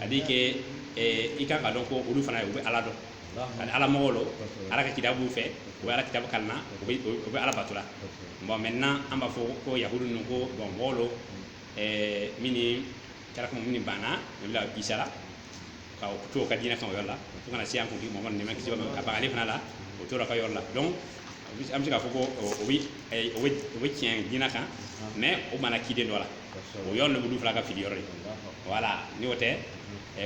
a di kɛ i ka ka dɔn ko olu fana ye u bɛ ala dɔn ani ala mɔgɔ don ala ka kitabu b'u fɛ u bɛ ala kitabu kalan na u bɛ ala bato la bon maintenant an b'a fɔ ko yahudu ninnu ko bon mɔgɔ don min kɛra minnu banna nabila isa la ka to u ka diinɛ kan o yɔrɔ la fo ka na se an kuntigi mamadu ma ka ban ale fana la o tora ka yɔrɔ la donc an bɛ se k'a fɔ ko o bɛ tiɲɛ diinɛ kan mais u banna kiden dɔ la o yɔrɔ de b'olu fila ka fili yɔrɔ ye voilà ni o tɛ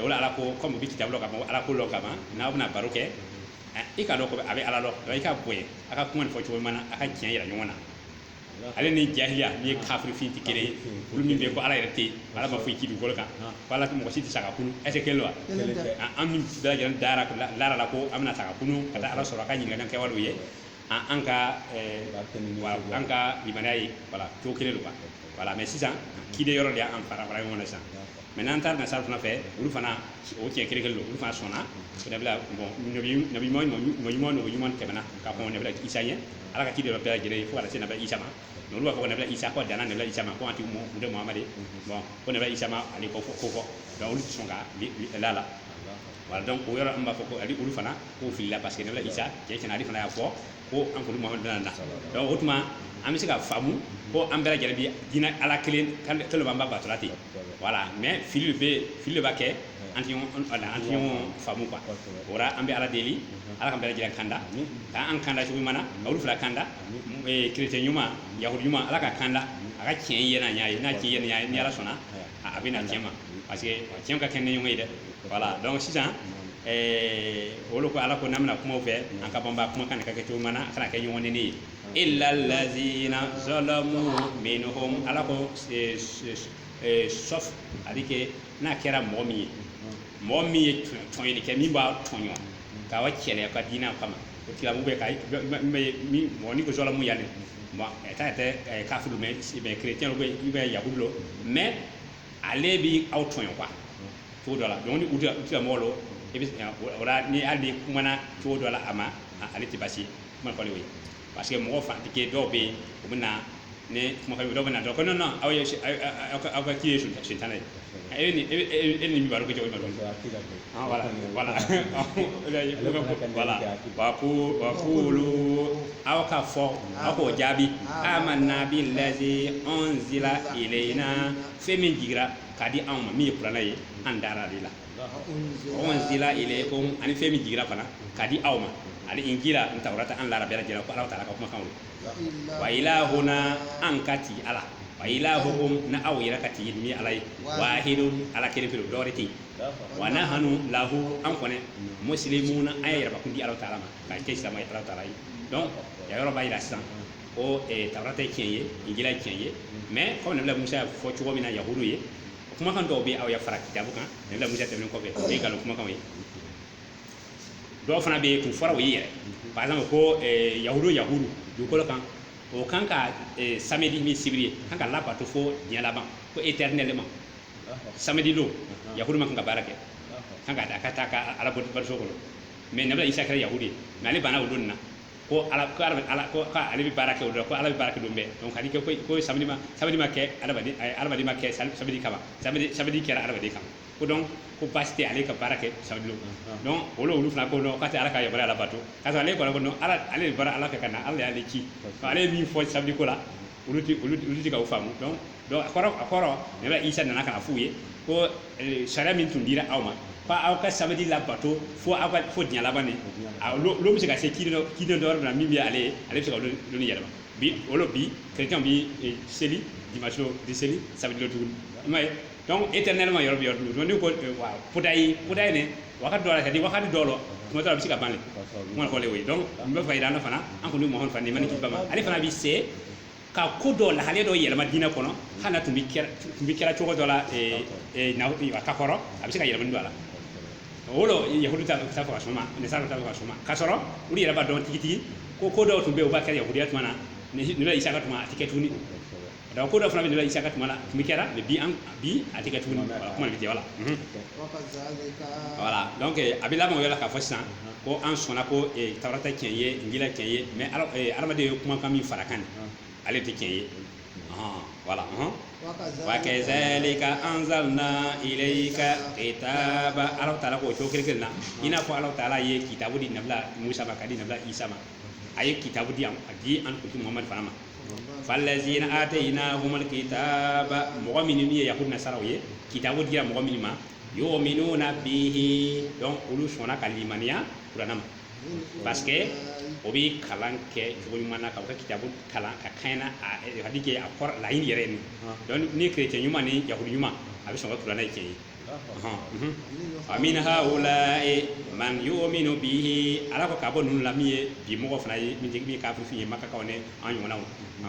o la ala ko kɔmi u bɛ kitabu lɔn ka ala ko lɔn ka ban n'aw bɛna baro kɛ i k'a dɔn ko a bɛ ala lɔn i k'a bonya a ka kuma nin fɔ cogo ɲuman na a ka tiɲɛ yira ɲɔgɔn na ale ni jahiliya ni kafirifin tɛ kelen ye olu min bɛ yen ko ala yɛrɛ tɛ yen ala ma foyi ci dugukolo kan ko ala mɔgɔ si tɛ sa ka kunu est-ce kelen wa an bɛɛ lajɛlen dara lara la ko an bɛna sa ka kunu ka taa ala sɔrɔ a k'an ɲininka an kɛwalew ye an ka an ka limaniya ye voilà o kelen don voilà mais sisan kiden yɔrɔ de an fara fara ɲɔgɔn sisan maintenant an taara nasara fana fɛ olu fana o cɛ kelen kelen don olu fana sɔnna nabi ɲuman tɛmɛna ka fɔ nabila isa ye ala ka kiden don bɛɛ lajɛlen fo se nabila isa olu b'a fɔ nabila isa dan nabila isa ko tɛ mamadu ko nabila isa ani ko fɔ ko fɔ olu sɔn ka la voilà o yɔrɔ b'a fɔ ko ali olu fana k'o filila parce que nabila isa cɛ cɛna ale fana y'a fɔ ko an kɔ mamadu bɛna na donc o tuma an bɛ se ka faamu ko an bɛɛ lajɛlen bi diinɛ ala kelen kelen b'an ba batula ten voilà mais fili bɛ fili b'a kɛ an tɛ ɲɔgɔn an tɛ ɲɔgɔn faamu quoi o la an bɛ ala deli ala k'an bɛɛ lajɛlen kanda k'an kanda cogo ɲuman na ka olu fila kanda kerecɛn ɲuman yahudi ɲuman ala ka kanda a ka tiɲɛ ye n'a ɲɛ ye n'a tiɲɛ ye n'a ɲɛ ye ni ala sɔnna a bɛ na tiɲɛ ma parce que tiɲɛ ka kɛ ni ɲɔgɔn ye dɛ voilà donc sisan eh, o de ko ala ko n'an bɛna kuma u fɛ an ka banba kuma kan a ka kɛ cogo ɲuman na a kana kɛ ɲɔgɔn nɛni ye illa lazina zalamu minhum ala ko eh, s- s- eh, sauf a di kɛ n'a kɛra mɔgɔ min ye mɔgɔ min ye tɔn- tɔɲɔli kɛ min b'aw tɔɲɔ ka aw kɛlɛ aw ka diinɛ kama o tila mɔgɔ bɛ ka min mɔgɔ ni ko zalamu yanni ta tɛ kafiri mais kerecɛn don walima yahudu don mais ale bɛ aw tɔɲɔ quoi cogo dɔ la donc ni o tila mɔgɔ don i bɛ ni hali i kumana cogo dɔ la a ma ale tɛ basiman ko le ye parce que mɔgɔ fanatique dɔw bɛ yen u bɛ na ni kumakan dɔ bɛna dɔn ko non aw ye aw ka kii ye sitana ye e ni e ni baro kɛ cogo donc voilà voilà wa qulu aw k'a fɔ aw k'o jaabi amanna billazi unzila ilayna fɛn min jiginra k'a di anw ma min ye kuranɛ ye an dara o de la unzila ilaykum ani fɛn min jiginra fana k'a di aw ma ani injil ni tawrata an lara bɛɛ lajɛlen la ko ala taala ka kumakan wa ilahuna an ka ti ala wa ilahukum na aw yɛrɛ ka ti min ala ye wahidun ala kelen pe dɔwɛrɛ tɛ yen wa nahanu lahu an kɔni muslimuna an ye yɛrɛ bakun di ala taala ma ka kɛ silamɛ ye ala taala ye donc ya yɔrɔ b'a yira sisan ko eh, tawurata ye tiɲɛ ye injila ye tiɲɛ ye mais kɔmi nabila musa y'a fɔ cogo min na yahudu ye kumakan dɔw bɛ aw y'a fara kitabu kan nabila musa tɛmɛnen kɔfɛ o ye nkalon kumakanw ye dɔw fana bɛ yen tun fɔra u ye yɛrɛ par exemple ko eh, yahudu yahudu dugukolo kan o kan ka eh, samedi min sibiri ye kan ka labato fo diɲɛ laban ko éternellement samedi don yahudu man kan ka baara kɛ kan ka da ka taa ka ala batoso kɔnɔ mais nabila isa kɛra yahudu ye mais ale banna o don nin na ko ala ko ala ala ko ka ale bɛ baara kɛ o don ko ala bɛ baara kɛ don bɛɛ donc ale ko ko samedi ma samedi ma kɛ adamaden eh, adamaden ma kɛ sam- samedi kama samedi samedi kɛra adamaden kama ko donc ko baasi tɛ ale ka baara kɛ samedi don donc o lo olu fana ko dɔn ka taa ala ka yɔrɔ ala bato ka ale kɔnɔ dɔn ala ale bɔra ala fɛ ka na ala y'ale ci ale ye min fɔ samedi ko la olu olu tɛ k'a faamu donc a kɔrɔ a kɔrɔ nabila isa nana ka na f'u ye ko eh, sariya min tun dira aw ma fo aw ka samedi labato fo aw ka fo diɲɛ laban de olu bɛ se ka se kiri dɔ kiri dɔ yɔrɔ min na min bɛ ale ye ale bɛ se ka olu yɛlɛma bi olu bi chrétien bi eh, seli dimanche don u tɛ seli samedi don tuguni i m'a ye donc éternellement yɔrɔ bɛ yɔrɔ dun ni ko wa puta ye puta ye ne wagati dɔ la c'est-à-dire wagati dɔ la tuma dɔ la a bɛ se ka ban de kuma fɔlen o ye donc n bɛ fɛ k'a yira an na fana an kuntigi muhamadu fana nɛɛma ni kisi b'a ma ale fana bɛ se ka ko dɔ lahale dɔ yɛlɛma diinɛ kɔnɔ hali n'a tun bɛ kɛra tun bɛ kɛra cogo dɔ la a ka kɔrɔ a bɛ se ka yɛlɛmani don a la o lo yahudu t'a t'a fɛ ka sɔn o ma nasara t'a fɛ ka sɔn o ma ka sɔrɔ olu yɛrɛ b'a dɔn tigitigi ko ko dɔw tun bɛ yen u b'a kɛ yahudiya tuma na nabila isa ka tuma a tɛ kɛ tuguni donc ko dɔ fana bɛ nabila isa ka tuma la tun bɛ kɛra mais bi an bi a tɛ kɛ tuguni kuma bɛ jɛ voilà voilà donc a bɛ laban o yɔrɔ la k'a fɔ sisan ko an sɔnna ko tawurata tiɲɛ ye injila tiɲɛ ye mais adamaden ye kumakan min fara a kan ale tɛ tiɲɛ ye voilà wa kazalika anzalna ilayka kitaba ala taala k'o cogo kelen na i n'a fɔ ala taala ye kitabu di nabila musa ma ka di nabila isa ma a ye kitabu di yan a di an kuntigi muhamadu fana ma falazina atayinahumul kitaba mɔgɔ minnu ye yahudu nasaraw ye kitabu dira mɔgɔ minnu ma yu'minuna bihi donc olu sɔnna ka limaniya kurana ma parce que o bɛ kalan kɛ cogo ɲuman na ka u ka kitabu kalan ka kɛɲɛ n'a hakika a kɔrɔ laɲini yɛrɛ ye min donc ni chrétien ɲuman ni yahudu ɲuman a bɛ sɔn ko kurana ye tiɲɛ ye wa min haula'i man yu'minu bihi ala ko ka bɔ ninnu la min ye bi mɔgɔ fana ye min ye kafiri ye makakaw ni an ɲɔgɔnnaw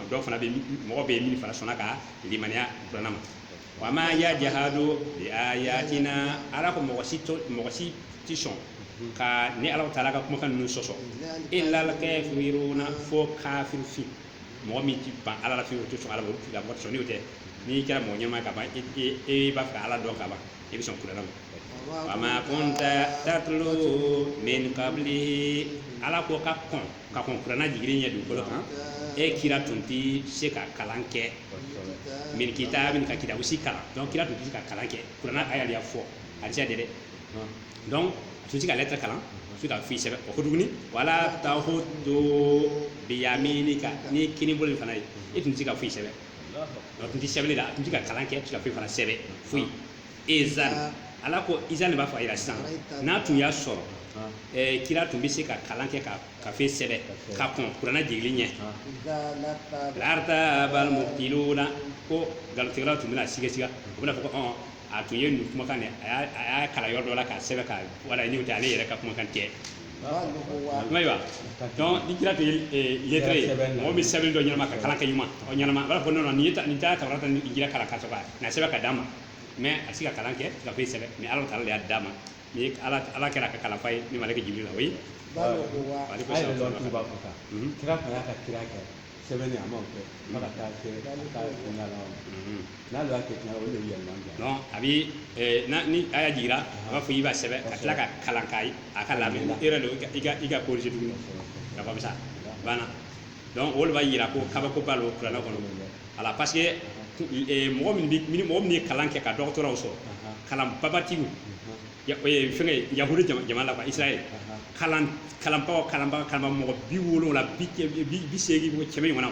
dɔw fana bɛ mɔgɔ bɛ min fana sɔnna ka limaniya kuranɛ ma wa ma yajhadu bi ayatina ala ko mɔgɔ si mɔgɔ si ti sɔn ka ni ala taala ka kumakan ninnu sɔsɔ illal kafiruna fo kafiri fin mɔgɔ min ti ban ala la fiyewu o tɛ sɔn ala ma o tigi la mɔgɔ tɛ sɔn n'o tɛ n'i kɛra mɔgɔ ɲɛnama ye ka ban e e e b'a fɛ ka ala dɔn ka ban e bɛ sɔn kuranɛ ma wama kunta tatlu min qablihi ala ko ka kɔn ka kɔn kuranɛ jigili ɲɛ dugukolo kan e kira tun tɛ se ka kalan kɛ min kitabin ka kitabu si kalan donc kira tun tɛ se ka kalan kɛ kuranɛ aya de y'a fɔ hadisa tɛ dɛ donc a tun tɛ se ka lɛtɛrɛ kalan a tun tɛ ka foyi sɛbɛn o ko tuguni wala tahutu biyaminika n'i kini bolo in fana ye e tun tɛ se ka foyi sɛbɛn a tun tɛ sɛbɛnni la a tun tɛ ka kalan kɛ a tun tɛ ka foyi fana sɛbɛn foyi izan ala ko izan de b'a fɔ a yira sisan n'a tun y'a sɔrɔ ɛɛ kira tun bɛ se ka kalan kɛ ka ka fɛn sɛbɛn ka kɔn kuranɛ jigili ɲɛ lartabal mubtiluna ko nkalontigɛlaw tun bɛna siga siga u bɛna fɔ ko ɔn a tun ye nin kumakan de a y'a- a y'a kalan yɔrɔ dɔ la k'a sɛbɛn ka wala n'o tɛ ale yɛrɛ ka kumakan tɛ ayiwa donc ni kira tun ye eh, lettré ye Kira sɛbɛn na. mɔgɔ min sɛbɛnni dɔn ɲɛnama ka kalan kɛ ɲuman ɔ ɲɛnama a b'a fɔ non non nin ye ta- nin taara tawurata ni injila kalan ka sɔrɔ ka na sɛbɛn ka d'a ma mais a tɛ se ka kalan kɛ ka foyi sɛbɛn mais ala taala de y'a d'a ma ni ye ala ala kɛra a ka kalanfa ye ni maleke jibirila o ye ale ko a yɛrɛ sɛbɛn lɔn tuba ko kan Mhm. kira tun y'a ka kira kɛ sɛbɛn a ma kɛ fo ka taa kɛ ka taa kunga la n'a y'a kɛ kunga o de bɛ yɛlɛma bila donc a bɛ ɛɛ na ni a y'a jigira a b'a fɔ i b'a sɛbɛn ka tila ka kalan k'a ye a ka lamɛn e yɛrɛ de i ka i ka corriger tuguni ka fɔ sa banna donc o de b'a yira ko kabako b'a la kuranɛ kɔnɔ ala parce que mɔgɔ min bɛ mɔgɔ min ye kalan kɛ ka dɔgɔtɔraw sɔrɔ kalan babatigiw ya o ye fɛngɛ ye, yahudu jama jamana la quoi israel kalan kalanbagaw kalanbaga kalanba mɔgɔ bi wolonwula bi kɛ- bi bi- bi seegin mɔgɔ kɛmɛ ɲɔgɔnna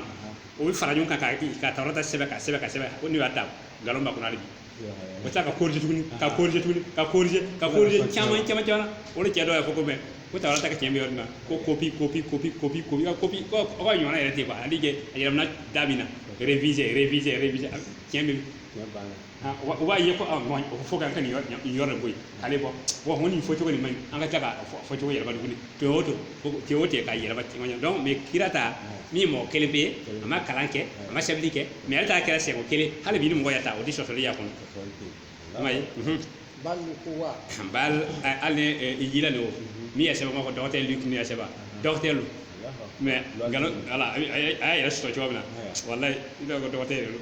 o bɛ fara ɲɔgɔn kan ka ka tawurata sɛbɛn ka sɛbɛn ka sɛbɛn ko n'u y'a ta nkalon b'a kɔnɔ hali bi o bɛ tila ka korije tuguni ka korije tuguni ka korije ka korije caman caman caman o de cɛ dɔw y'a fɔ ko mɛ ko tawurata ka tiɲɛ bɛ yɔrɔ min na ko kopi kopi kopi kopi kopi ka kopi ko aw ka ɲɔgɔnna yɛrɛ tɛ yen quoi hali kɛ a yɛlɛmana da min na reviser reviser reviser a- tiɲɛ bɛ Tiɲɛ banna. u b'a ye ko a ma o fɔ ka kɛ nin yɔrɔ de bɔ yen k'ale bɔ wa ko nin fɔ cogo nin man ɲi an ka taa k'a fɔ cogo yɛlɛma tuguni to o to te o tɛ ka yɛlɛma caman ye donc mais kira ta min mɔgɔ kelen pe ye a ma kalan kɛ a ma sɛbɛnni kɛ mais ale ta kɛra sɛko kelen hali bi ni mɔgɔ y'a ta o tɛ sɔsɔli y'a kɔnɔ i m'a ye bal ni ko wa bal hali injila de o min y'a sɛbɛn k'a fɔ docteur Luc tun y'a sɛbɛn docteur Luc mais nkalon ala a y'a yɛrɛ sɔrɔ cogo min na walayi i b'a fɔ docteur Luc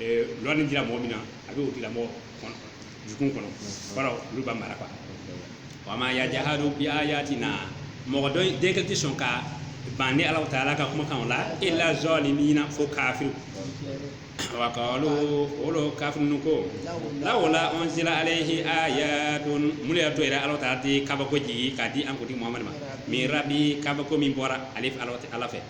eh, lɔni dira mɔgɔ min na a bɛ o tigilamɔgɔ dusukun kɔnɔ kɔrɔ olu b'a mara quoi wa ma yajahadu bi ayatina mɔgɔ dɔ in- den kɛ tɛ sɔn ka ban de ala taala ka kumakan o la illa zalimina fo kafiru wa qalu olu kafiru ninnu ko lawla unzila alayhi ayatun mun de y'a to yɛrɛ ala taala tɛ kabako jigi k'a di an kuntigi muhamadu ma min rabi kabako min bɔra ale fɛ ala fɛ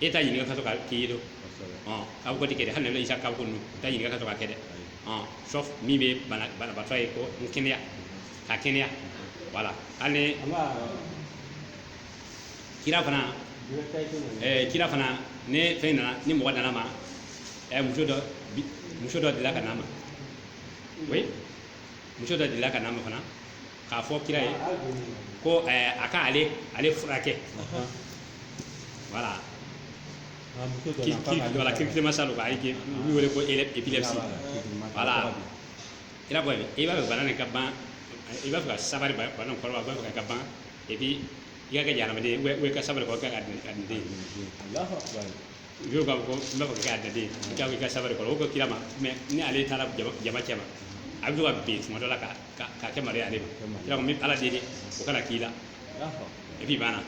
e t'a ɲininka k'a to k'a k'i ye don kabako tɛ kɛ hali nabila isa ka kabako ninnu t'a ɲininka k'a to k'a kɛ dɛ sauf min bɛ banabatɔ ye ko n kɛnɛya ka kɛnɛya voilà hali kira fana kira fana ni fɛn nana ni mɔgɔ nana a ma muso dɔ delila ka n'a ma oui muso dɔ delila ka n'a ma fana k'a fɔ kira ye ko ɛɛ, a ka ale ale furakɛ voilà voilà. kirikirimasa don k'a ye u wele ko ele- épilepsie voilà kira ko a ye i b'a fɛ bana nin ka ban i b'a fɛ ka sabali ba- bana nin kɔrɔ wa i b'a fɛ ka ka ban et puis i ka kɛ jahanamaden ye ou bien i ka sabali kɔ i ka kɛ alijanaden ye Alahu akbar. Yɔrɔ k'a fɔ n b'a fɛ ka kɛ alijanaden ye ka sabali kɔrɔ o ko kira ma mais ni ale taara jama jama cɛma a bɛ to ka bin tuma dɔ la ka ka ka kɛ malo ye ale ma kira ko n bɛ ala deli o kana k'i la et puis banna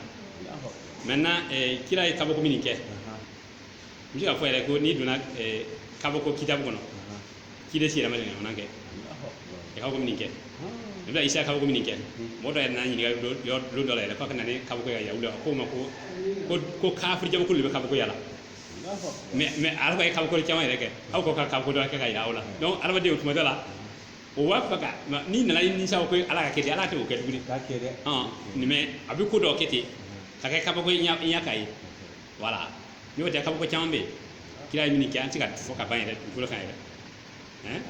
maintenant eh, kira ye kabako min kɛ n bɛ se k'a fɔ yɛrɛ ko n'i donna eh, kabako kitabu kɔnɔ kiden sira ma nin fana kɛ i ka kabako min kɛ nabila isa ka kabako min kɛ mɔgɔ dɔ yɛrɛ n'a ɲininka don dɔ la yɛrɛ f'a ka na ni kabako ya yawuda ko ma ko ko ko kafiri jamakulu de bɛ kabako yaala mais mais ala ka ye kabako caman yɛrɛ kɛ aw ko ka kabako dɔ kɛ ka ye voilà donc adamadenw tuma dɔ la o b'a fɛ ka n'i nan'a ɲini sa ko ala k'a kɛ ten ala tɛ o kɛ tuguni k'a kɛ dɛ mais a bɛ ko dɔ kɛ ten ka kɛ kabako i ɲɛ k'a ye voilà n'o tɛ kabako caman bɛ yen kira ye min kɛ an tɛ se k'a fɔ ka ban yɛrɛ dugukolo kan yɛrɛ hein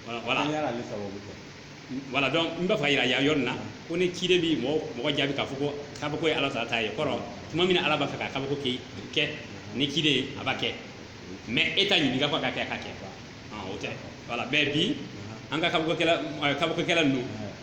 voilà voilà donc n b'a fɛ k'a yira yan yɔrɔ nin na ko ni ciden bi mɔgɔ mɔgɔ jaabi k'a fɔ ko kabako ye ala taala ta ye kɔrɔ tuma min na ala b'a fɛ ka kabako kɛ ni ciden ye a b'a kɛ mais e t'a ɲininka ko a ka kɛ a ka kɛ o tɛ voilà mais bi an ka kabakokɛla kabakokɛla ninnu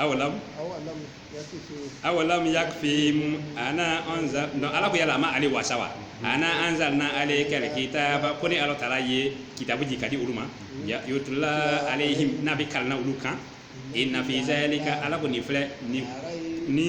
aw la awalam yakfihim anna anzalna ala ko yala a ma ale wasa wa anna anzalna alayka alkitaba ko ni ala taala ye kitabu jigi k'a di olu ma yutla alayhim n'a bɛ kalan olu kan inna fi zalika ala ko nin filɛ ni ni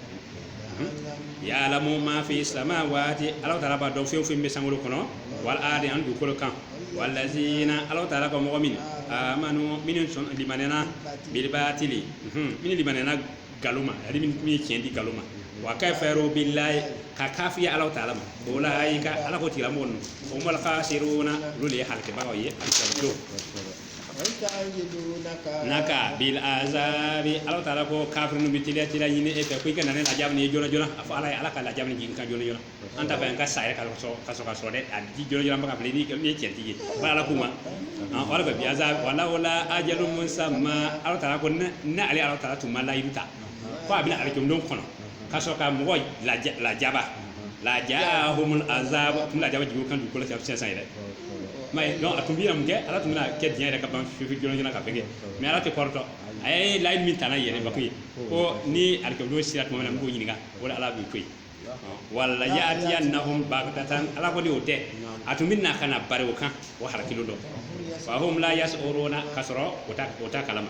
ya'lamu ma fi samawati ala taala b'a dɔn fɛn o fɛn bɛ sankolo kɔnɔ wal ardi an dugukolo kan walazina ala taala ko mɔgɔ min amanu minnu sɔn limanɛna bil batili minnu limanɛna nkalon ma ani minnu ye tiɲɛ di nkalon ma wa kafaru billahi ka kafiya ala taala ma ulayika ala ko tigilamɔgɔ ninnu humul khasiruna olu de ye halakɛbagaw ye alikiyama don naka bil azabi ala taala ko kafiri ninnu bɛ teliya teliya ɲini e fɛ ko i ka na ni lajaba nin ye jona jona a fɔ ala ye ala ka lajaba nin jigin an kan jona jona an t'a fɛ an ka sa yɛrɛ ka sɔrɔ ka sɔrɔ ka sɔrɔ dɛ a di jona jona ba ka fili n'i ye cɛntigi ye ba ala kuma an ala fɛ bi azabi wa lawla ajalun musamma ala taala ko ni ale ala taala tun ma layidu ta ko a bɛna alikiyama don kɔnɔ ka sɔrɔ ka mɔgɔ lajaba lajaahumul azabu tun lajaba jigin o kan dugukolo kan sisan yɛrɛ mais non a tun bɛ mun kɛ ala tun bɛna kɛ diɲɛ yɛrɛ ka ban fifi jona ka fɛgɛ mais ala tɛ kɔrɔtɔ a ye layidu min ta yɛrɛ bako ye ko ni alikiyama don sera tuma min na n b'o ɲininka o la ala b'i ko yen wala ya'tiyannahum baghtatan ala ko ni o tɛ a tun bɛ na ka na bari o kan o halakilen don wa hum la yas'uruna ka sɔrɔ o t'a kalama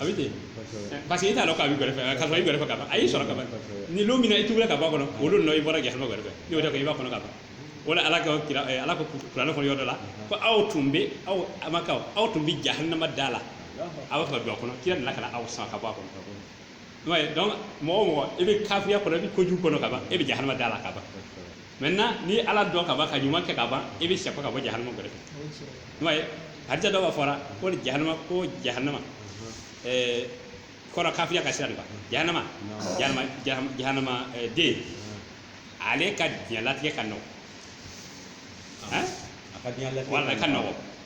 a bɛ ten parce que i t'a dɔn k'a b'i gɛrɛfɛ ka sɔrɔ a b'i gɛrɛfɛ ka ban a y'i sɔrɔ ka ban ni don min na i tuubila ka bɔ a kɔnɔ o don na i bɔra jahanama gɛrɛfɛ ni o tɛ i b'a kɔnɔ ka ban o la ala ka kira ala ko kuranɛ kɔnɔ yɔrɔ dɔ la ko aw tun bɛ aw makakaw aw tun bɛ jahanama da la aw bɛ fɛ ka don a kɔnɔ kira nana ka na aw sama ka bɔ a kɔnɔ ouais donc mɔgɔ o mɔgɔ i bɛ kafiriya kɔnɔ i bɛ kojugu kɔnɔ ka ban e bɛ jahanama da la ka ban maintenant ni ala dɔn ka ban ka ɲuman kɛ ka ban e bɛ sɛpɛ ka bɔ jahanama gɛrɛ fɛ ouais hadisa dɔ b'a fɔra ko ni jahanama ko jahanama ɛɛ kɔrɔ kafiriya ka sira de kan jahanama jahanama jahanama jahanama ɛɛ den ale ka diɲɛlatigɛ ka nɔgɔn hein a ka diɲɛ latigɛ wala ka nɔgɔn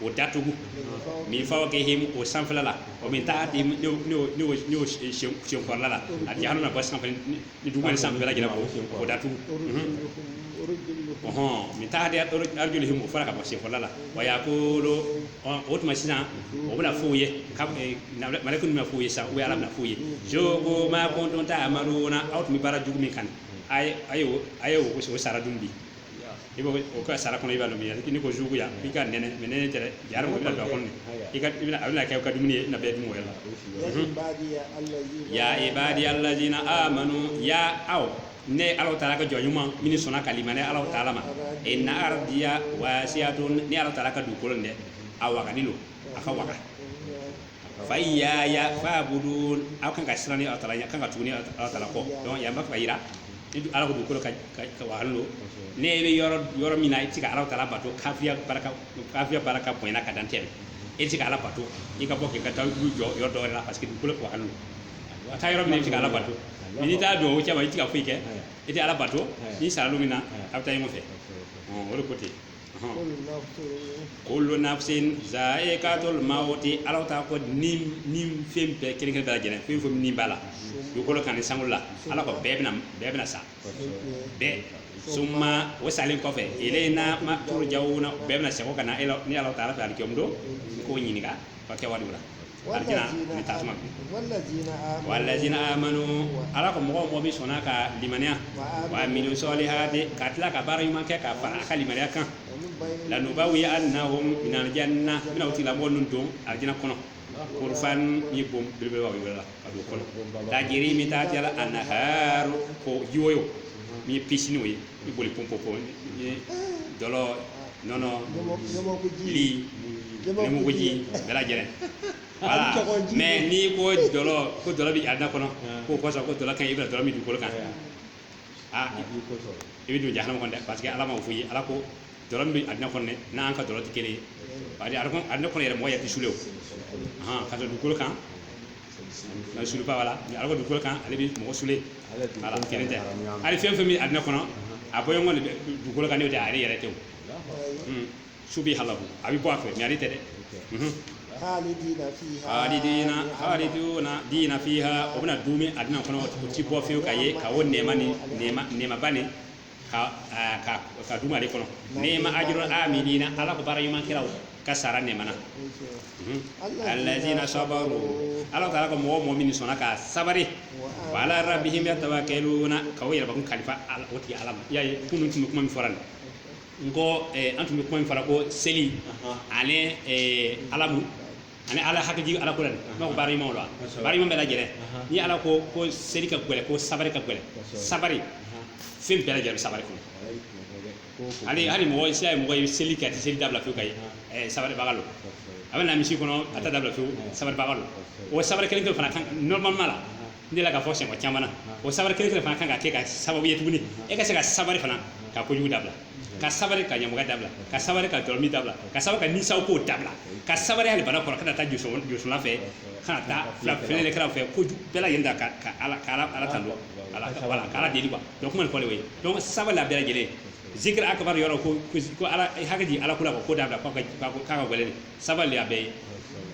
o datugu min fa kɛ hmu o sanfɛla la o min taa di senfala la a di hali ba sanfɛ ni dugu san bɛɛ jira o datuguɔn min taa di o fara ka bɔ senfala la wa y'a ko o tuma sisan o bɛna fɔ' ye mari tun bɛ foyi ye sa u ala bɛ foyi ye jo ko ma kɔntɔn ta amadu aw tun bɛ baara jugu min kan a a ye o sara dun bi i bɛ o ka sara kɔnɔ i b'a dɔn min ye n'i ko zuqu yan i ka nɛnɛ mais nɛnɛ tɛ dɛ ja ko bɛna don a kɔnɔ i ka i bɛna a bɛna kɛ i ka dumuni ye i n'a bɛɛ dun o yɔrɔ la ya ibadiya alazina amanu ya aw ne ala taala ka jɔn ɲuman min sɔnna ka limanɛ ala taala ma inna ardiya wasiatun ne ala taala ka dugukolo dɛ a wagalen don a ka waga fa iyaya fabuduni aw kan ka siran ala taala ɲa kan ka tuguni ala taala kɔ donc yan b'a fɛ ka yira ni du- ala ko dugukolo ka ka- ka wahala don n'i bɛ yɔrɔ yɔrɔ min na i tɛ se ka ala taala bato kafiriya baraka kafiriya baraka bonyana ka dan tɛmɛ i tɛ se ka ala bato i ka bɔ k'i ka taa du jɔ yɔrɔ dɔ wɛrɛ la parce que dugukolo ka wahala don a taa yɔrɔ min na i tɛ se ka ala bato mɛ n'i taa don o cɛ ma i tɛ se ka foyi kɛ i tɛ ala bato n'i sara don min na a bɛ taa ɲɔgɔn fɛ Ɔ, o de ko ten kullu nafsin zaikatul mawti ala ta ko ni ni fɛn bɛɛ kelen kelen bɛɛ lajɛlen fɛn fɛn ni b'a la dugukolo kan ni sankolo la ala ko bɛɛ bɛna bɛɛ bɛna sa bɛɛ summa o salen kɔfɛ ilaina ma turjauna bɛɛ bɛna segin ka na e la ni ala taala fɛ alikiyama don k'o ɲininka o ka kɛwaliw la wallazina amanu ala ko mɔgɔ mɔgɔ min sɔnna ka limaniya wa amilu salihati ka tila ka baara ɲuman kɛ ka fara a ka limaniya kan lanubawiannahum minal janna bɛna o tigilamɔgɔ ninnu don alijinɛ kɔnɔ gurafan ni bon belebelebaw yɔrɔ la ka don kɔnɔ tajiri min tahtihal anhar ko jiwoyo min ye pisiniw ye i boli pɔnpɔ dɔlɔ nɔnɔ li ɲamakuji bɛɛ lajɛlen wala mɛ n'i ko dɔlɔ ko dɔlɔ bɛ alijinɛ kɔnɔ ko kosɔn ko dɔlɔ kan i bɛna dɔlɔ min dugukolo kan aa i bɛ don jahanama kɔnɔ dɛ parce que ala m'o fɔ i ye ala ko dɔlɔ min bɛ alijinɛ kɔnɔ dɛ n'an ka dɔlɔ tɛ kelen ye alijinɛ kɔnɔ yɛrɛ mɔgɔ ye tɛ sule ka dugukolo kan na sule pas wala ni ala dugukolo kan ale bɛ mɔgɔ sule wala kelen tɛ hali fɛn fɛn bɛ alijinɛ kɔnɔ a bɔɲɔgɔn de dugukolo kan ne tɛ ale yɛrɛ tɛ o su bɛ halabu a bɛ bɔ a fɛ mɛ ale tɛ dɛ halidina halidina fiha o bɛna duumɛ alijinɛ kɔnɔ o ti bɔ fiyewu ka ye ka o nɛɛma ni nɛɛma nɛɛmaba ni ka ka ka dumu ale kɔnɔ niima ajrul amilina ala ko baara ɲuman kɛlaw ka sara nɛmana allazina sabaru ala taala ko mɔgɔ mɔgɔ min sɔnna ka sabari wa ala rabbihim yatawakkaluna ka o yɛrɛ bakun kalifa ala o tigi ala ma y'a ye kunun tun bɛ kuma min fɔra nin n ko an tun bɛ kuma min fɔra ko seli ani alamu ani ala hakiliji ala ko la dɛ n b'a ko baara ɲuman lo baara ɲuman bɛɛ lajɛlen ni ala ko ko seli ka gɛlɛ ko sabari ka gɛlɛ sabari fɛn bɛɛ lajɛlen bɛ sabari kɔnɔ hali hali mɔgɔ sira ye mɔgɔ ye seli kɛ a tɛ seli dabila fiyewu ka ye ɛɛ sabaribaga lo a bɛ na misiri kɔnɔ a tɛ dabila fiyewu sabaribaga lo o sabari kelen kelen fana kan normalement la n delila k'a fɔ siɲɛ caman na o sabari kelen kelen fana kan ka kɛ ka sababu ye tuguni e ka se ka sabari fana ka kojugu dabila ka sabari ka ɲamɔgɔ dabila ka sabari ka dɔlɔmin dabila ka sabari ka ni sako dabila ka sabari hali bana kɔrɔ kana taa josɔnna fɛ kana taa filɛlikɛla fɛ ko bɛɛ lajɛlen da ka ka ala ka ala ala tando ala ka wala ka ala deli quoi donc kuma nin fɔlen o ye donc sabari la bɛɛ lajɛlen zikiri akbar yɔrɔ ko ko ala hakɛ di ala kula ko dabila k'a ka k'a ka gɛlɛn sabari la bɛɛ ye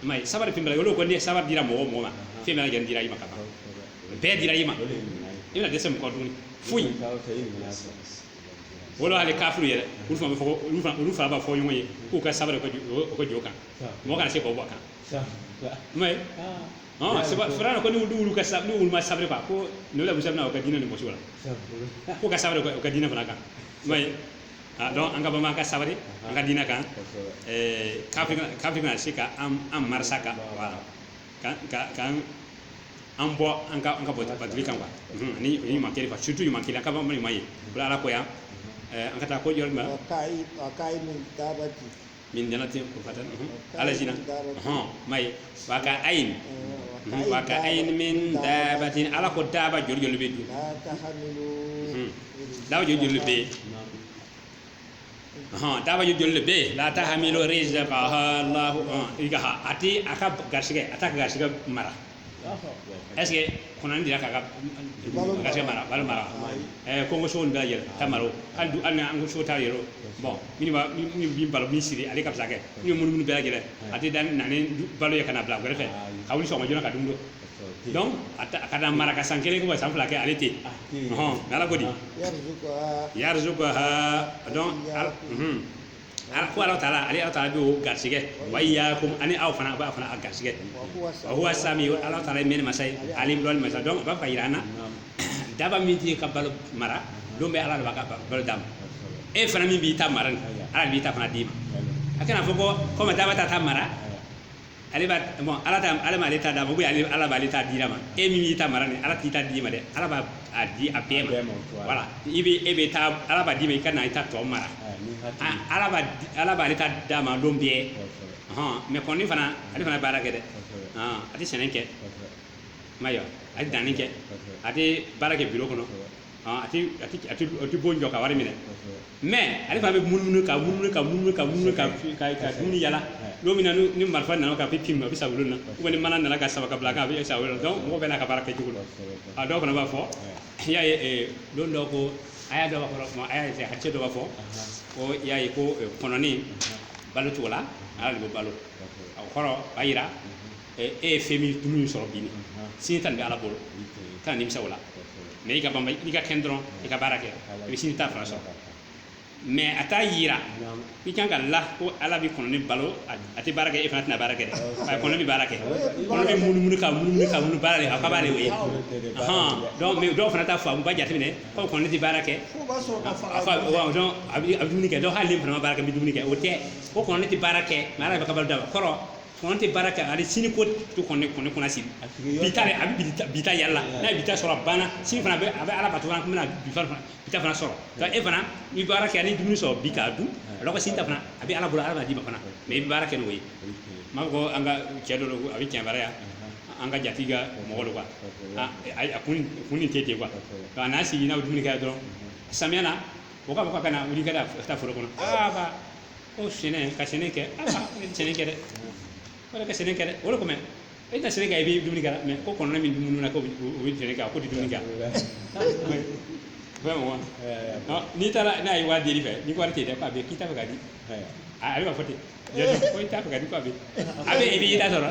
i m'a ye sabari fɛn bɛɛ la olu ko ni sabari dira mɔgɔ o mɔgɔ ma fɛn bɛɛ lajɛlen dira i ma ka ban bɛɛ dira i ma i tɛna dɛsɛ mɔgɔ tuguni foyi wolo hali kafiri yɛrɛ olu fana bɛ fɔ ko olu fana olu fana b'a fɔ ɲɔgɔn ye k'u ka sabali u ka jo- o ka jo kan mɔgɔ kana se k'o bɔ a kan i m'a ye ɔn sabu firawuna ko ni olu ka sa ni olu ma sabali quoi ko nabila musa bɛna o ka diinɛ nin bɔsi o la ko ka sabali o ka- o ka diinɛ fana kan i m'a ye donc an ka banban ka sabali an ka diinɛ kan ɛɛ kafiri kana- kafiri kana se ka an an marisa kan voilà an bɔ an ka ka bɔ pa kan wa ni ɲuman ka surtout ɲuman kelen ka ɲuman ye bila ala ko yan an ka taa ko jɔn nin dala ten o ala hɔn ma ye wa ka ayin wa ka ayin min dabatin ala ko daba joli bɛ don daba joli bɛ yen hɔn daba joli joli de bɛ yen la tahmilu rizqaha allahu i ka ha a ti a ka garisɛgɛ a t'a garisɛgɛ mara est-ce que kɔnɔni delila k'a ka garisɛgɛ mara balo mara ɛɛ kɔngɔ sogo bɛɛ lajɛlen t'a mara hali du hali an ka so ta yɛrɛ bon min b'a min bi balo min siri ale ka fisa kɛ min ye munumunu bɛɛ lajɛlen a tɛ taa na ni balo ye ka na bila kɛrɛ fɛ ka wuli sɔgɔma joona ka dumuni donc a ta- a ka ta mara ka san kelen kɔfɛ san fila kɛ ale tɛ yen Ah, te yen. Ɔhɔn, mais ala ko di yarzuquha yarzukaha donc ala mhm. ala ko ala taala ale ala taala bɛ o garisigɛ wa iyakum ani aw fana b'aw fana garisigɛ wa huwa wa huwa sami ala taala ye mɛnni masa ye alim dɔnni masa donc a b'a fɛ ka yira an na Naam. daba min t'i ka balo mara don bɛ ala de b'a ka ba- balo d'a ma e fana min b'i ta mara nin ala de b'i ta fana d'i ma a kana fɔ ko komi daba t'a ta mara ale b'a bon ala ta ala ma ale ta d'a ma ou ale ala b'ale ta dira ma e min y'i ta mara ni ala t'i ta d'i ma dɛ ala b'a a di a bɛɛ ma voilà i bɛ e bɛ taa ala b'a d'i ma i ka na i ta tɔ mara ala b'a ala b'ale ta d'a ma don bɛɛ hɔn mais kɔnɔni fana ale fana baara kɛ dɛ hɔn a tɛ sɛnɛ kɛ ma yɔ a tɛ danni kɛ a tɛ baara kɛ biro kɔnɔ ɔn, a ti a ti a ti a ti bon jɔ ka wari minɛ kosɛbɛ mais ale fana bɛ munumunu ka munumunu ka munumunu ka munumunu ka ka ka dumuni yala lon min na ni ni marifa nana ka bi pim a bɛ sa o lon na ou ni mana nana k'a saba k'a bila a kan a bɛ sa o lon na donc mɔgɔ bɛɛ n'a ka baara kɛcogo don kosɛbɛ a dɔw fana b'a fɔ i y'a ye eh, don dɔw ko a y'a dɔw b'a fɔ kuma a y'a ye hadisi dɔ b'a fɔ ko i y'a ye ko eh, kɔnɔni balo cogo la ala de b'o balo o kɔrɔ b'a jira ɛ, e ye fɛn min tulu min sɔrɔ bi nin sini ta nin bɛ ala bolo kana nimisa o la mais i ka banba n'i ka kɛnɛ dɔrɔn i ka baara kɛ i bɛ sini ta fana sɔrɔ mais a t'a yira i kan ka la ko ala bɛ kɔnɔnin balo a a tɛ baara kɛ e fana tɛna baara kɛ dɛ ayi kɔnɔ bɛ baara kɛ kɔnɔ bɛ munumunu ka munumunu ka munumunu baara de a ka baara de o ye Ahan, donc mais dɔw fana t'a faamu u b'a jateminɛ ko kɔnɔ tɛ baara kɛ F'o b'a sɔrɔ ka fara a fa wa donc a bɛ a bɛ dumuni kɛ donc hali ne fana ma baara kɛ n bɛ dumuni kɛ o tɛ ko kɔnɔnin tɛ baara kɛ mais ala bɛ k'a balo d'a ma kɔrɔ Kɔnɔ tɛ baara kɛ ani sini ko t'o kɔn kɔn kɔnɔ sini bi a bɛ bi ta yaala n'a bi ta sɔrɔ banna sini fana bɛ a bɛ ala ka to an bɛna bi fana sɔrɔ e fana n'i baara kɛ ni dumuni sɔrɔ bi k'a dun a sini ta fana a bɛ ala bolo ala d'i ma fana mais i bɛ baara kɛ n'o ye maa ko an ka cɛ dɔ a bɛ cɛbaya yan an ka jatigi ka mɔgɔ don a kun ni tɛ ten kuwa nka n'a sigi n'aw dumuni kɛ dɔrɔn samiya na o ka bɔ ka na wuli ka taa foro kɔnɔ ko sɛnɛ ka sɛnɛ kɛ ala ne tɛ sɛnɛ kɛ dɛ wala ka sɛnɛ kɛ dɛ o de comme e tɛ sɛnɛ kɛ i bɛ dumuni kɛ mais ko kɔnɔna min dumuni na ko o bɛ sɛnɛ kɛ a ko tɛ dumuni kɛ vraiment o n'i taara n'a ye wari deli i fɛ n'i ko wari tɛ dɛ k'a bɛ k'i t'a fɛ k'a di a bɛ fɔ ten ko i t'a fɛ k'a di k'a bɛ a bɛ i b'i ta sɔrɔ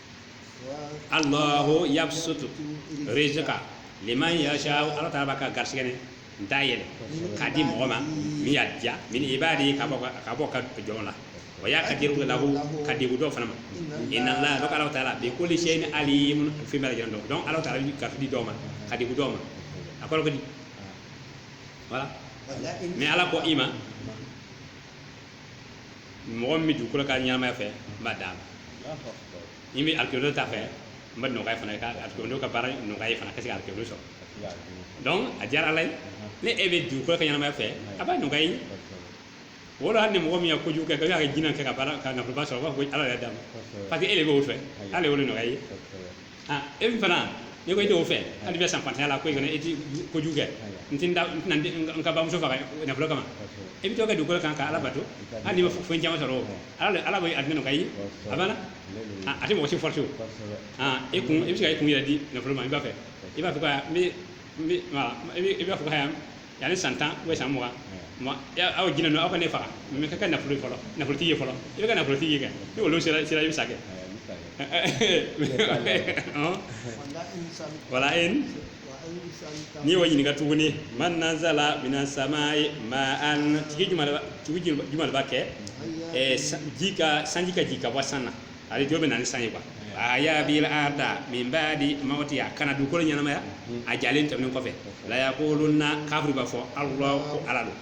Allahu yabsutu rizqa liman yasha ala taala b'a ka garisɛgɛ nin da yɛlɛ k'a di mɔgɔ ma min y'a diya min ibadi ka bɔ ka- ka bɔ a ka jɔnw la wa yaqdiru lahu ka dɛgun dɔ fana ma inna allah donc ala taala bi kulli shay'in alim fɛn bɛɛ lajɛlen dɔn donc ala taala bɛ garisɛgɛ di dɔw ma ka dɛgun dɔw ma a kɔrɔ ko di voilà mais ala ko i ma mɔgɔ min bɛ dugukolo ka ɲɛnamaya fɛ n b'a d'a ma min bɛ alikiyama don ta fɛ n b'a nɔgɔya fana ka alikiyama don ka baara nɔgɔya a ye fana ka se ka alikiyama don sɔrɔ donc a diyara ala ye ni e bɛ dugukolo ka ɲɛnamaya fɛ a b'a nɔgɔya i ye wala hali ni mɔgɔ min ye kojugu kɛ ko y'a kɛ jinɛ ka baara kɛ ka nafoloba sɔrɔ u b'a fɔ ko ala y'a d'a ma parce que e de b'o fɛ ala y'o de nɔgɔya a ye ah e min fana n'i ko e t'o fɛ hali i bɛ sa fantanya la ko e kana e ti kojugu kɛ n ti n da n tɛna n den- n ka bamuso faga nafolo kama e bɛ to ka dugukolo kan ka ala bato hali n'i ma fɛn caman sɔrɔ o ala ala b'o dama nɔgɔya i ye a banna Ah, a tɛ mɔgɔ si force o ah e kun e bɛ se ka e kun yɛrɛ di nafolo ma i b'a fɛ i b'a fɔ ko aa n bɛ n bɛ wala i bɛ i b'a fɔ ko aa yanni san tan o san mugan aw jinɛw aw ka ne faga mais n ka kɛ nafolo fɔlɔ nafolotigi ye fɔlɔ i bɛ ka nafolotigiya kɛ ni o lon sera i bɛ sa kɛ wa la'in n'i wa ɲininka tuguni man nazzala minas sama'i ma'an jumɛn b'a kɛ ji ka sanji ka jigi ka bɔ san na a bɛ jɔn bɛ na ni sanji ye fa ahaya bili arda min badi mawtiha ka na dukolo ɲɛnamaya a jalen tɛmɛ kɔfɛ layakuluna kafiriw b'a fɔ allahu ko ala don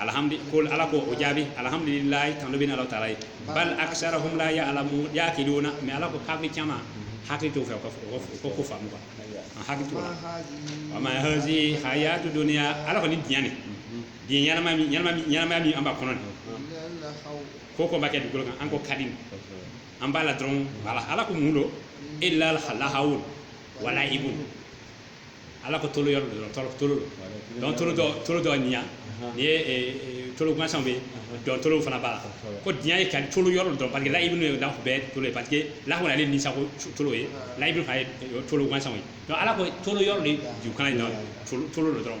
alihamdu kuli ala ko o jaabi alihamdulila tanu bɛ ala taala ye bali akisaruhum la yaalamu yaakiluna mais ala ko kafiri caman hakili t'o fɛ ko ko faamu a hakili t'o wa ma hazihi hayatu duniya ala ko ni diɲɛ nin ɲɛnamaya min an b'a kɔnɔ ko ko an b'a kɛ dugukolo kan an ko ka di an b'a la dɔrɔn wala ala ko mun don ila lahawun wa laibun ala ko tolon yɔrɔ dɔrɔn tolon tolon don tolon dɔ tolon dɔ ɲa ni ye e, e, tolon gansan bɛ dɔn tolon fana b'a la ko diɲɛ ye ka tolon yɔrɔ don parce que laibun ye la bɛɛ tolon ye parce que lahawu ale ni sago tolon ye laibun fana ye tolon gansan ye donc ala ko tolon yɔrɔ de ju kana ye tolon dɔrɔn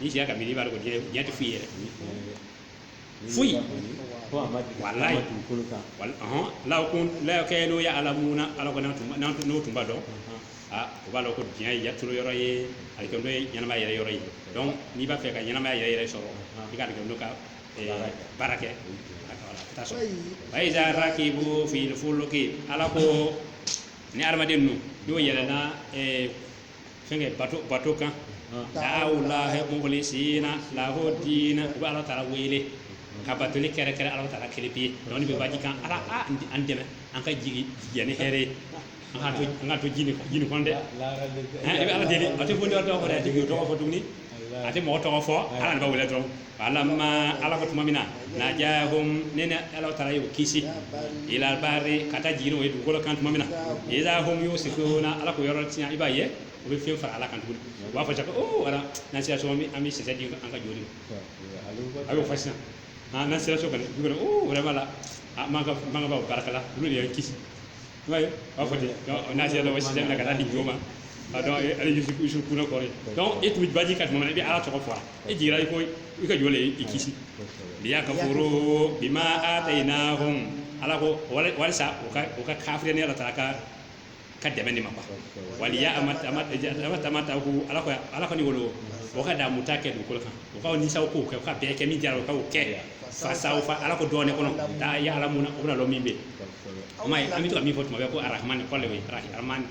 n'i sera ka miiri b'a dɔn ko diɲɛ diɲɛ tɛ foyi yɛrɛ foyi ko a ma deli Walayi. a ma dugukolo kan wala ɔhɔn law ko law kanu yaalamuna ala ko n'an tun n'an tun- n'o tun b'a dɔn a o b'a dɔn ko diɲɛ ye tolon yɔrɔ ye alikiyama don ye ɲɛnamaya yɛrɛ yɔrɔ ye donc n'i b'a fɛ ka ɲɛnamaya yɛrɛ yɛrɛ sɔrɔ i ka alikiyama don ka eh, Baara kɛ. baara kɛ a ka wala, a ka taa sɔrɔ wa iza rakibu fili fuluki ala ko ni adamaden ninnu n'o yɛlɛnna eh, fɛnkɛ bato bato kan dawulahi mukhlisina lahu dina u bɛ ala taala wele ka batoli kɛrɛnkɛrɛn ala taala kelen pewu donc n'i bɛ baji kan ala a an dɛmɛ an ka jigin ni hɛrɛ ye an ka to an kana to ji nin ji nin kɔnɔ dɛ i bɛ ala deli a tɛ boli tɔgɔ fɔ a tɛ tɔgɔ fɔ tuguni a tɛ mɔgɔ tɔgɔ fɔ ala de bɛ wele dɔrɔn falama ala ko tuma min na najahum ne ni ala taala y'o kisi ila bari ka taa jigin o ye dugukolo kan tuma min na iza hum yusirikuna ala ko yɔrɔ tiɲɛ i b'a ye o bɛ fɛn fara ala kan tuguni u b'a fɔ cɛ o wala n'an sera so an bɛ sisɛ di an ka jo ma a b'o fɔ sisan n'an sera so kɔni o vraiment la mɔgɔbaw baraka la olu de y'an kisi i b'a ye u b'a fɔ ten donc n'an sera dɔrɔn sisɛ minɛ ka taa di jo ma donc ale yusu yusirikuna kɔrɔ donc e tun bɛ baji kan tuma min na i bɛ ala tɔgɔ fɔ a e jigira i ko i ka jo le y'i kisi liyakifuru bima atayinahum ala ko wali- walisa u ka u ka kafiriya ne ala taala ka dɛmɛ de ma quoi waliya ama ama ama tamatau ala ko ala kɔni wolo o ka daamu ta kɛ dugukolo kan o ka ni sago ko kɛ u ka bɛɛ kɛ min diyara o ka o kɛ fasawfa ala ko dɔɔnin kɔnɔ taa yaalamuna o bɛna lɔn min bɛ yen o ma ye an bɛ to ka min fɔ tuma bɛɛ ko arahamani k'ale ye arahamani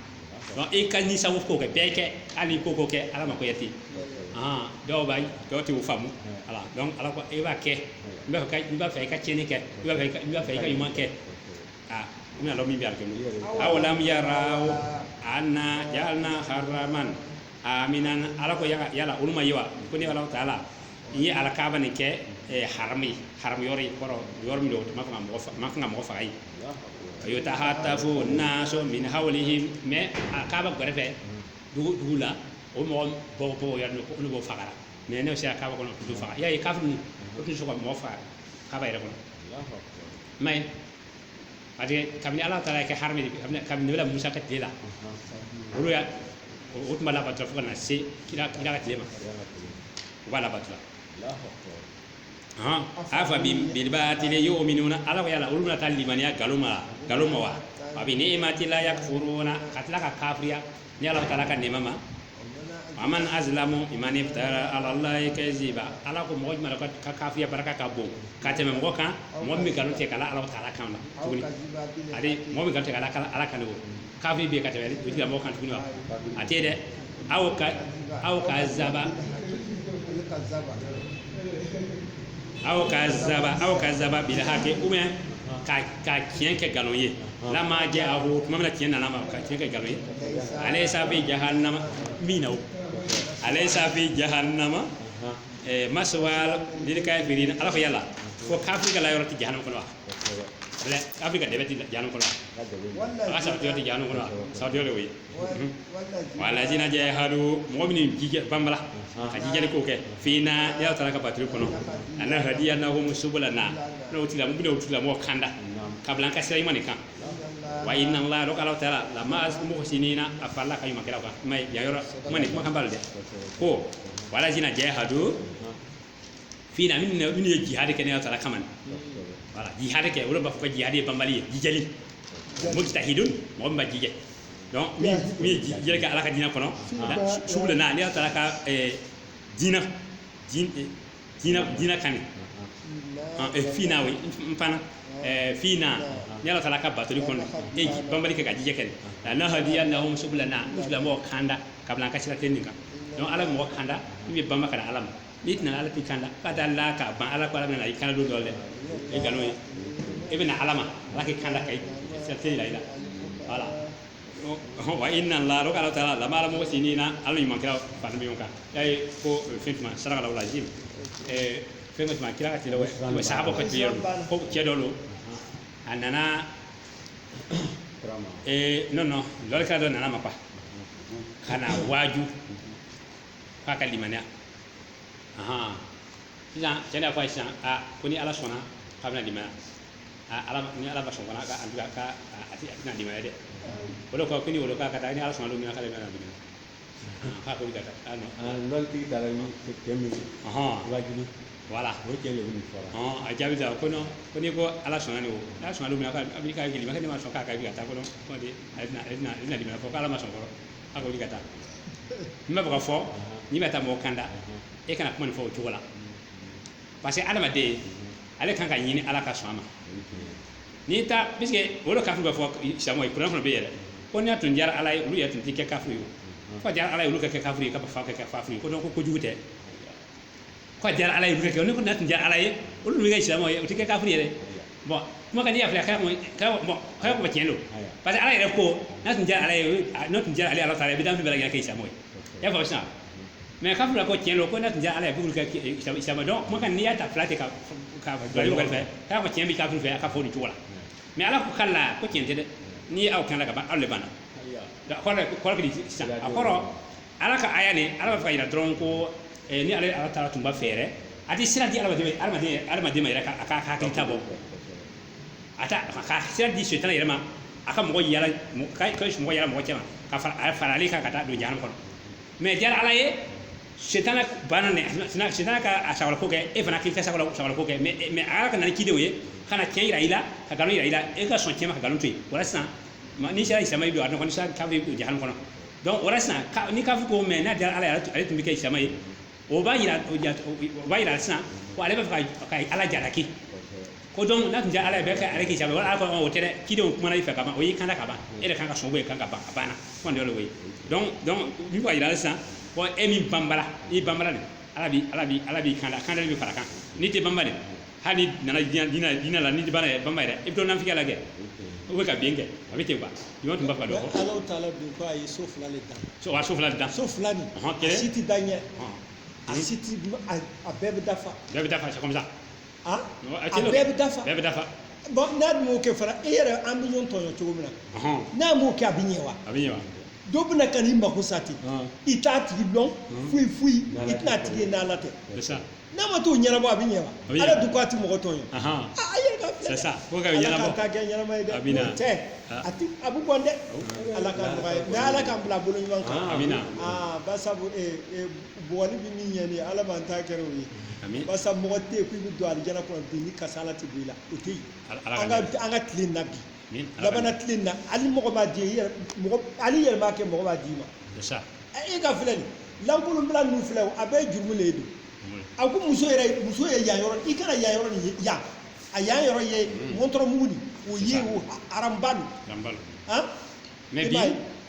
donc i ka ni sago ko kɛ bɛɛ kɛ hali ko ko kɛ ala ma ko yɛ ten ah dɔw b'a dɔw tɛ o faamu ala donc ala ko i b'a kɛ i b'a fɛ n'i b'a fɛ i ka tiɲɛni kɛ i b'a fɛ n'i b'a fɛ i ka ɲuman kɛ ah i bɛna dɔn min bɛ alikiyama awalam yaraw anna jaalna haraman amina ala ko yala yala olu ma ye wa ko ne ala taala n ye ala kaaba nin kɛ eh, haram ye haram yɔrɔ ye kɔrɔ yɔrɔ min don o ma kan ka mɔgɔ fa- ma kan ka mɔgɔ faga ye wa yutahatafu nasu min hawlihim mais a kaaba gɛrɛfɛ dugu dugu la o mɔgɔ bɔ bɔ yɔrɔ min ko olu b'o fagara mais n'i sera kaaba kɔnɔ o tɛ faga y'a ye kafiri ninnu o tun tɛ sɔn ka mɔgɔ faga kaaba yɛrɛ kɔnɔ i m'a ye parce que kabini ala taala kɛ harami de kabini kabini nabila musa ka tile la olu y'a o tun b'a labatora fo ka na se kira kira ka tile ma u b'a labatora hɔn afabi bil batili yu'minuna ala ko yala olu bɛna taa limaniya nkalon ma nkalon ma wa bi ni'matila yakfuruna ka tila ka kafiriya ne ala taala ka nɛɛma ma wa man azlamu miman iftara ala allahi kaziba ala ko mɔgɔ jumɛn ka kafiriya barika ka bon ka tɛmɛ mɔgɔ kan mɔgɔ min bɛ nkalon tigɛ k'a la ala taala kan na tuguni ani mɔgɔ min nkalon tigɛ k'a la ala kan o kafiri bɛ ka tɛmɛ o tigilamɔgɔ kan tuguni wa a tɛ dɛ aw ka aw kazaba aw kazaba aw kazaba bil haki ou ka tiɲɛ kɛ nkalon ye lama ja'ahu tuma min na tiɲɛ nana ma ka tiɲɛ kɛ nkalon ye alaysa fi jahannama min na o alaysa fi jahannama ɛɛ maswal lil kafirina ala ko yala ko kafiri ka la yɔrɔ ti jahannama kɔnɔ wa kafiri ka dɛbɛn ti jahannama kɔnɔ wa a ka sabati yɔrɔ ti jahannama kɔnɔ wa sabati yɔrɔ de y'o ye walazina jahadu mɔgɔ min ji kɛ banbala ka jijali ko kɛ fina ne ala taala ka batoli kɔnɔ lanahadiyanahum subulana n'o tila mun bɛ o tigilamɔgɔ kanda k'a bila an ka sira ɲuman kan wa inna laha donc ala taala lama muhsinina a farala koɲuman kɛlaw kan kuma yan yɔrɔ kuma ni kumakan b'a la dɛ ko walazina jahadu fina minnu minnu ye jihadi kɛ ne ala taala kama ni voilà jihadi kɛ olu b'a fɔ ko jihadi ye banbali ye jijali mujtahidun mɔgɔ min b'a jija donc min min ye ji- jijali kɛ ala ka diinɛ kɔnɔ na- su- subulana ne ala taala ka eh, diinɛ diin- eh, diinɛ diinɛ kan de Ah, eh, fina oui n fana eh, fina ne ala taala ka batoli kɔnɔ e ji- banbali kɛ ka jija kɛ lanahadiyannahum subulana o tigilamɔgɔ kanda k'a bila an ka sira tilennen kan ala bɛ mɔgɔ kanda min bɛ banba ka na ala ma n'i tɛ na ala t'i kanda ka da la ka ban ala ko ala bɛna i kanda don dɔ dɛ e nkalon ye e bɛ na ala ma ala k'i kanda ka sira de jira i la voilà wa inna laha donc ala taala lama al muhsinina ala ɲuman kɛla fana bɛ ɲɔgɔn kan y'a ye ko fɛn tuma saraka la ji fɛn tuma kira ka tile wa sahaba ka tile ko cɛ dɔ don a nana eh non non lɔnnikɛla dɔ nana a ma quoi ka na waaju k'a ka limaniya ahan sisan cɛ de y'a fɔ a ye sisan a ko ni ala sɔnna k'a bɛna limaniya a ala ma- ni ala ma sɔn fana ka an tugu a ka a- a ti- a tɛna limaniya dɛ o de kɔ ko ni o lo k'a ka taa ni ala sɔnna don min na k'ale bɛna limaniya k'a ko ka taa ah non ah n'olu tigi taara ni cɛ min ye ɔhɔn wajibi voilà o cɛ de bɛ nin fɔra ɔhɔn a jaabi sa ko non ko n'i ko ala sɔnna de o n'a sɔnna don min na k'a bɛ k'a jeli ma ne ma sɔn k'a ka bi ka taa ko non ko de a bɛna a bɛna a bɛna dimi fɔ k'ala ma sɔn fɔlɔ a ko ka taa n b'a fɛ k'a fɔ n'i bɛ taa mɔgɔ kanda e kana kuma nin fɔ o cogo la parce que adamaden ale kan k'a ɲini ala ka sɔn a ma n'i ta parce que o de kafiri b'a fɔ silamaw ye kuran fana bɛ yɛlɛ ko n'a tun diyara ala ye olu yɛrɛ tun tɛ kɛ kafiri ye k'a diyara ala ye olu ka kɛ kafiri ye ka fa kɛ kɛ kafiri ko ko kojugu tɛ k'a diyara ala ye olu kɛ ne ko n'a tun diyara ala ye olu bɛ kɛ silamaw ye o tɛ kɛ kafiri yɛrɛ bon kumakan n'i y'a filɛ k'a bɔn k'a bɔ tiɲɛ don parce que ala yɛrɛ ko n'a tun diyara ala ye n'a tun diyara ale ala taala ye i bɛ danfɛn bɛɛ kɛ kɛ silamaw ye e fa sisan mais k'a fɔra ko tiɲɛ don ko n'a tun diyara ala ye k'olu kɛ silama donc kumakan n'i y'a ta filɛ ten ka ka jɔli wɛrɛ fɛ k'a ko tiɲɛ bɛ k'a fɛ a ka fɔ nin cogo la mais ala ko k'ale la ko tiɲɛ tɛ dɛ n'i ye aw kanda ka ban aw de banna kɔrɔ ko di sisan a kɔrɔ ala ka aya nin ala b'a fɛ k'a yira dɔrɔn ko ni ale ala taala tun b'a fɛ yɛrɛ a tɛ sira di ala adamaden adamaden ma yɛrɛ a k'a hakili ta bɔ a ta ka sira di sitana yɛrɛ ma a ka mɔgɔ yala ka mɔgɔ yala mɔgɔ caman ka fara ale kan ka taa don jahannam kɔnɔ mais diyara ala ye sitana banna ne sitana ka a sagolako kɛ e fana k'i ka sagolako kɛ mais mais ala ka na ni cidenw ye ka na tiɲɛ yira i la ka nkalon yira i la e ka sɔn tiɲɛ ma ka nkalon to yen wala sisan ni sera silama ye don a dɔn n'i sara k'a bɛ don jahannam kɔnɔ donc wala sisan n'i k'a fɔ ko mais n'a diyara ala ye ale tun bɛ kɛ silama ye o b'a yira o ja- o- o b'a yira sisan ko ale bɛ fɛ ka ka ala jalaki ko donc n'a tun diyara ala ye bɛ ka ale kɛ silama wala ala ko ɔ, o tɛ dɛ cidenw kumana i fɛ ka ban o y'i kanda ka ban e de kan ka sɔn o ye kan ka ban a banna kuma dɔ le o ye donc donc min bɛ k'a yira ale sisan ko e min banbala n'i banbala de ala b'i ala b'i ala b'i kanda kanda de bɛ fara kan n'i tɛ banbali hali n'i nana diɲɛ diinɛ diinɛ la n'i banna ye bama yɛrɛ i bɛ to nafigiya la kɛ o bɛ ka bin kɛ a bɛ ten kuwa jɔn tun b'a fɔ dɔ ko ala taala don ko a ye so fila de dan so wa so fila dan so fila nin Ɔhɔn, a kelen. si tɛ da ɲɛ a si tɛ a a bɛɛ bɛ dafa bɛɛ bɛ dafa comme ça a Non, a a tɛ bɛɛ bɛ dafa bɛɛ bɛ dafa bon n'a dun m'o kɛ fana e yɛrɛ an bɛ ɲɔgɔn tɔɲɔ cogo min na Ɔhɔn, n'a m'o kɛ a bɛ ɲɛ wa a bɛ ɲɛ wa dɔ bɛna ka n'i mako sa ten Ɔn. i t'a tigi dɔn foyi foyi i tɛna a tigi ye n'ala tɛ c'est ça n'a ma t'o ɲɛnabɔ a bɛ ɲɛ wa A bɛ ɲɛ. ala dun ko a tɛ mɔgɔ tɔɲɔ Ahan. a a yɛrɛ ka filɛ C'est ça. Fo ka ala ɲɛnabɔ. k'a ta kɛ ɲɛnama ye dɛ A bɛ na. N'o tɛ Ah. a tɛ a bɛ bɔn dɛ ala ka nɔgɔya ye mais ala k'an bila bolo ɲuman kan Ah, Amina. aa basabu ee ee boli bɛ min ɲɛ nin ye ala m'an ta kɛra o ye Amin. basa mɔgɔ tɛ yen k'i bɛ don alijana kɔnɔ bi ni kasala tɛ b'i la o tɛ yen Ala- Ala ka an ka nɛgɛ. an ka tile in na bi Min ala ka- labanana tile na hali mɔgɔ b'a di i yɛrɛ- mɔgɔ- hali i yɛrɛ m'a kɛ mɔgɔ b'a d'i ma c'est ça Ɛ, e ka filɛli lankolonbila ninnu filɛ o, a bɛɛ ye jurumu le ye don oui a ko muso yɛrɛ muso ye yan yɔrɔ i kana yan yɔrɔ nin ye yan a yan yɔrɔ ye Mm. wɔntɔrɔ mugu nin o C'est ye ça. o ha- haramba don lanbalo han mais I bi m'a ye?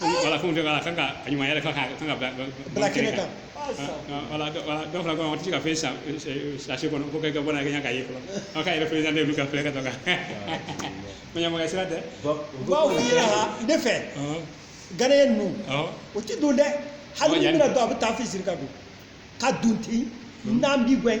voilà fɛnw tɛ voilà kan ka a ɲumanya yira kan ka kan ka bila bila kɛnɛ kan voilà voilà dɔw fana kɔnɔ o tɛ ka fɛn san sachet kɔnɔ ko kɛ ka bɔ n'a kɛ ka ye fɔlɔ aw ka yɛrɛ présenter ka filɛ ka taga ɲamaka sira tɛ baw yɛrɛ ne fɛ gariya ninnu o tɛ don dɛ hali ni bɛna don a bɛ taa fisi ka don ka don ten n'an bi gɛn